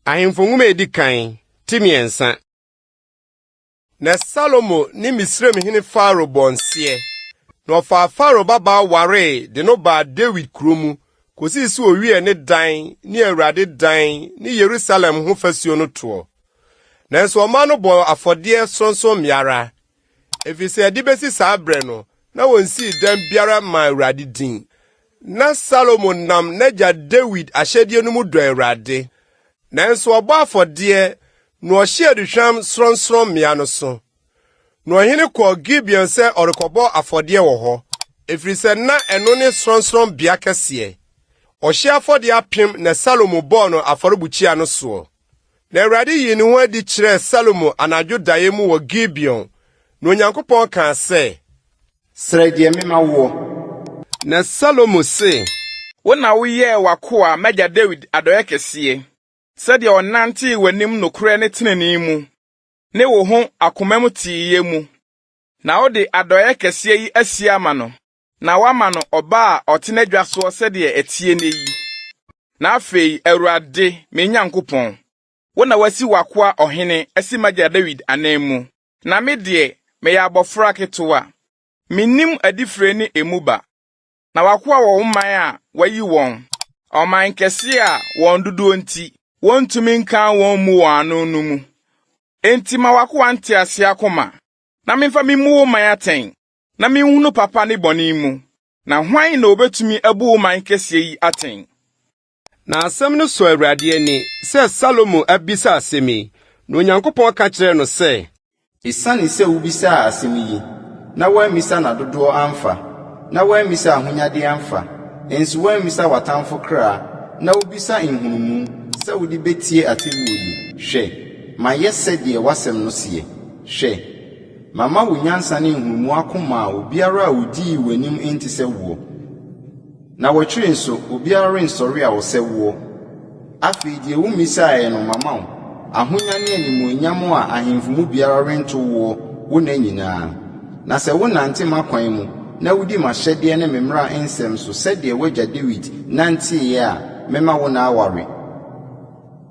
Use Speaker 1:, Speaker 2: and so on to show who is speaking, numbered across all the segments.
Speaker 1: Ahemfo nwoma a edi kan ti mmiɛnsa. Na Salomo ne Misraim hene Faro bɔ nseɛ, na ɔfaa Faro babaa waree de no baa Dawid kuro mu kɔsii sɛ ɔwiee ne dan ne Awurade dan ne Yerusalem ho fasuo no toɔ. Nanso ɔmaa no bɔɔ afɔdeɛ sorɔnsorɔmmea ara, Efisɛ ɛde besi saa bere no, na wonsii dɛm biara mmaa Awurade din. Ná Salomo nam n'agya Dawid ahyɛdeɛ no mu dɔ Awurade, nanso ɔbɔ afɔdeɛ na ɔhye aduhwam sorɔnsorɔmmea no so. Na ɔhene kɔɔ Gibeon sɛ ɔrekɔbɔ afɔdeɛ wɔ hɔ, ɛfiri sɛ na ɛno ne sorɔnsorɔmmea kɛseɛ. Ɔhye afɔdeɛ apem na Salomo bɔɔ no afɔrebukyia no soɔ. Na Awurade yii ne ho adi kyerɛɛ Salomo anadwo daeɛ mu wɔ Gibeon, na Onyankopɔn kaa sɛ. Srɛ deɛ
Speaker 2: mema woɔ. Na
Speaker 1: Salomo se. Wo na woyɛɛ
Speaker 3: w'akoa m'agya Dawid adɔeɛ kɛseɛ, sɛdeɛ ɔnantee w'anim nokorɛ ne tenenee mu, ne wo ho akomam teeyɛ mu, na wode adɔeɛ kɛseɛ yi asie ama no. Na woama no ɔba a ɔte n'agya soɔ sɛdeɛ ɛteɛ nnɛ yi. Na afei, Awurade, me Nyankopɔn, wo na woasi w'akoa ɔhene asi m'agya Dawid ananmu, na me deɛ, meyɛ abɔfra ketewa. Mennim adifire ne emu ba. Na w'akoa wɔ wo man a woayi wɔn, ɔman nkɛseɛ a wɔn dodoɔ nti, wɔntumi nkan wɔn mmu wɔn ano no mu. Enti ma w'akoa nteaseɛ akoma, na memfa memmu wo man atɛn, na minhunu papa ne bɔne mu, na hwan na obetumi abu wo man kɛseɛ yi atɛn? Na
Speaker 1: asɛm no sɔ Awurade ani sɛ Salomo abisa asɛm yi, na Onyankopɔn ka kyerɛɛ no sɛ. Esiane sɛ
Speaker 2: wobisaa asɛm yi, na woammisa nna dodoɔ amfa, na woammisa ahonyadeɛ amfa, nso woammisa w'atamfo kra, na wobisa nhunumu sɛ wode bɛtie atemmuo yi, hwɛ, mayɛ sɛdeɛ w'asɛm no seɛ. Hwɛ! Mama wo nyansa ne nhunumu ako maa obiara a odii w'anim enti sɛ woɔ. Na wɔkyerɛ nso, obiara rensɔre a ɔsɛ woɔ. Afei deɛ wo mmisaeɛ no mama wo, ahonya ne animuonyam a ahemfo mu biara rento woɔ wo nna nyinaa. Na sɛ wonante m'akwan mu na wodi m'ahyɛdeɛ ne me mmara nsɛm so sɛdeɛ w'agya Dawid nanteeɛ a, mɛma wo nna aware.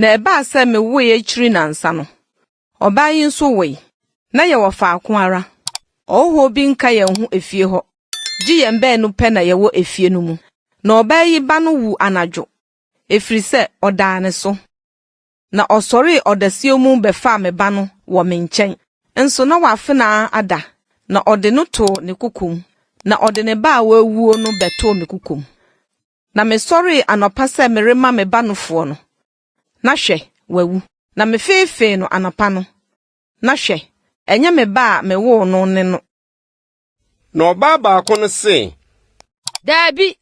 Speaker 4: Na ɛbaa sɛ mewoe akyiri nnansa no, ɔbaa yi nso woe. Na yɛwɔ faako ara. Ɔhɔhoɔ bi nka yɛn ho efie hɔ, gye yɛn baanu pɛ na yɛwɔ efie no mu. Na ɔbaa yi ba no wuu anadwo, ɛfiri sɛ ɔdaa ne so. Na ɔsɔree ɔdasuo mu bɛfaa me ba no wɔ me nkyɛn, nso na w'afenaa ada, na ɔde no too ne kokom, na ɔde ne ba a w'awuo no bɛtoo me kokom. Na mesɔree anɔpa sɛ merema me ba nofoɔ no, na hwɛ, wawu. Na mefeefee no anɔpa no, na hwɛ, ɛnyɛ me ba a mewoo no ne no. Na
Speaker 1: ɔbaa baako no se. Daabi,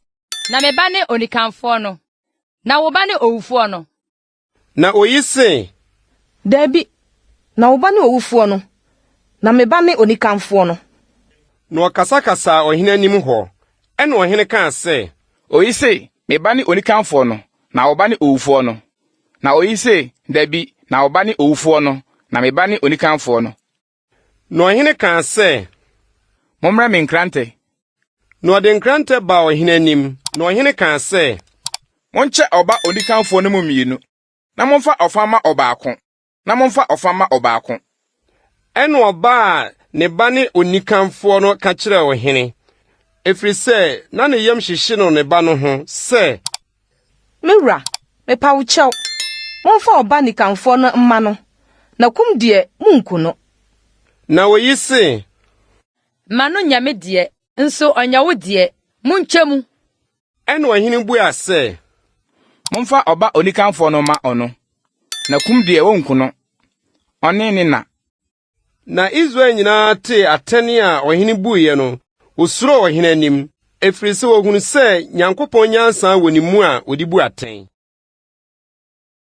Speaker 5: na me ba ne onikanfoɔ no, na wo ba ne owufoɔ no. Na oyi
Speaker 1: se. Dabi,
Speaker 4: na wo ba ne owufoɔ no, na me ba ne onikanfoɔ no. Na
Speaker 1: ɔkasakasaa ɔhene anim hɔ. Ɛnna ɔhene kaa sɛ. Oyi se,
Speaker 3: Me ba ne onikanfoɔ no, na wo ba ne owufoɔ no. Na oyi se, Dabi, na wo ba ne owufoɔ no, na me ba ne onikanfoɔ no. Na ɔhene
Speaker 1: kaa sɛ. Mommrɛ
Speaker 3: me nkrantɛ. Na ɔde
Speaker 1: nkrantɛ baa ɔhene anim, na ɔhene kaa sɛ. Monkyɛ
Speaker 3: ɔba onikanfoɔ no mu mmienu, na momfa ɔfa mma ɔbaako, na momfa ɔfa mma ɔbaako. Ɛna
Speaker 1: ɔba a ne ba ne onikanfoɔ no ka kyerɛɛ ɔhene, ɛfiri sɛ na ne yam hyehye no ne ba no ho sɛ. Me wura,
Speaker 4: mepa wo kyɛw, momfa ɔba nikanfoɔ no mma no, na kum deɛ, monku no. Na
Speaker 1: oyi se. Ma
Speaker 5: no nyɛ me deɛ, nso ɔnyɛ wo deɛ, monkyɛ mu. Ɛnna ɔhene
Speaker 1: bua sɛ. Momfa
Speaker 3: ɔba onikanfoɔ no mma ɔno, na kum deɛ, wɔnku no, ɔne ne na. Na
Speaker 1: Israel nyinaa tee atɛn a ɔhene buiɛ no, wɔsuroo ɔhene anim, ɛfiri sɛ wɔhunu sɛ Nyankopɔn nyansa wɔ ne mu a ɔde bu atɛn.